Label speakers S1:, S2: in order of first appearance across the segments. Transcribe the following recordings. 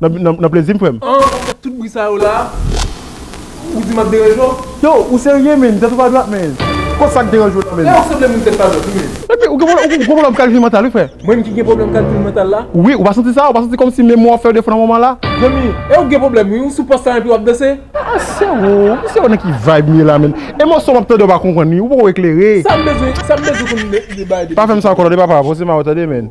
S1: Nan plezi m frem. An ou fè tout bri sa
S2: yo la ou di map deranje w? Yo ou serye
S1: menn tèt ou pa dwat menn kot sak deranje w la menn. Ew sanble moun tèt pa dwat
S2: wi menn. Epi ou gen pwoblm
S1: kalkil mantal wi frè. Mwen ki gen pwoblm kalkil
S2: mantal la? Wi ou pa santi sa ou pa santi
S1: komsi memwaw fèw defo nan moman la. Zanmi ew gen pwoblm
S2: wi ou sou pòs sa epi wap danse. Aa sero ou
S1: sero nan ki vibe m ye la menn e mòso map tande ou pa konprann wi ou poko eklere. Sam
S2: bezwen konn de bagay depi. Pa fèm sa ankò tande papa
S1: bon se ma ou tande menn.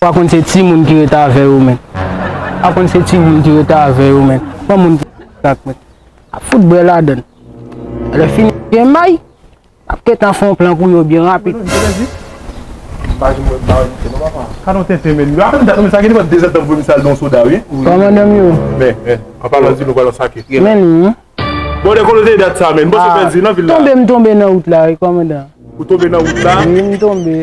S3: Pa konn se ti moun ki ret avè yo men. Pa konn se ti moun ki ret avè yo men. Gran moun ki ret ak mwen. Ap fout bwè ladann. Lè fini gen may. Ap gentan fon plan pou yo byen rapid. Komandan
S4: m
S3: yo. Men
S4: li wi. Tonbe m tonbe nan wout la wi
S3: komandan.
S4: Wi
S3: m tonbe.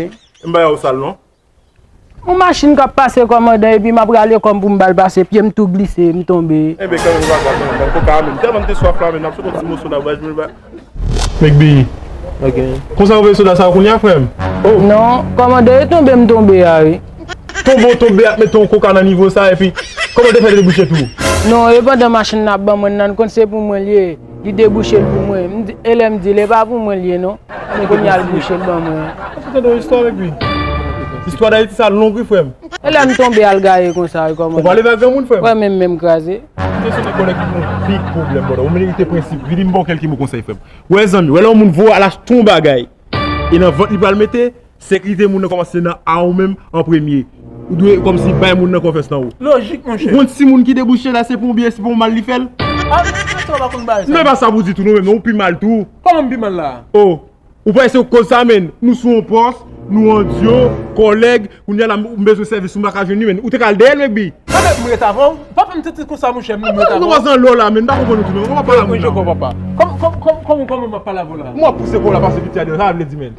S4: Yon machin
S3: kap pase kòmandan epi map rale kòm poum bal pase pyem tou glise m tonbe. Enben kanmenm nou pa ka tann
S4: nan koka a menm tèlman m te swaf la menm ap sot yon ti moso nan bouch mwen. Mecby. Ok. Konsa ou vle soda sa kounya frèm? Oh. Non kòmandan
S3: e tonbe m tonbe a wi. Tonbe w tonbe
S4: ap mete yon koka nan nivo sa epi kòmandan fè debouche tou. Non e pandan
S3: machin nan ap ban mwen nan n konn se pou mwen l ye. Li debouche l pou mwen. M di, e lè m di l, e pa pou mwen l ye non. Men kounya l bouche l ban mwen. Ou fenk tande yon istwa avèk
S4: li? Istwa Dayiti sa long wi frèm. E lè m tonbe al
S3: gaye konsa wi kòman. Ou pa leve ak granmoun
S4: frèm. Wè men m men m kraze.
S3: Kesyon de kòlè ki
S4: gon big pwoblèm bòdò. Ou merite prensip. Vini m ba w kèlke mo konsèy frèm. Wè zanmi, wè lè yon moun voye al achte yon bagay e nan vant li pral mete, Sekrite moun nan komanse nan a ou menm an premye. Ou dwe komsi bay moun nan konfyans nan ou. Lojik monchè. Ou konn si
S2: moun ki debouche la
S4: se pou ou byen se pou ou mal li fèl? A ou menm sa ou
S2: pa konn bagay sa. Nou e pa sa pou di tou nou menm non
S4: ou pi mal tou. Koman m pi mal la?
S2: Oh ou panse
S4: se ou k koz sa menn nou sou yon pòs nou an dyo kòlèg kounya la m bezwen sèvis ou m pa ka jwenn li menn ou te ka al dèyè l menn kbi. An menm m ret avè w?
S2: Pa fè m santi konsa monchè menm m ret avè w. Ou pa san lè w la menn
S4: m pa konprann ou tou menm. Ou pa pale a moun nan. Mwen jwe kò papa. Koman
S2: koman koman m ap pale avè w la? M wè w ap pouse kò w la pase piti
S4: a deyò sa vle di menn?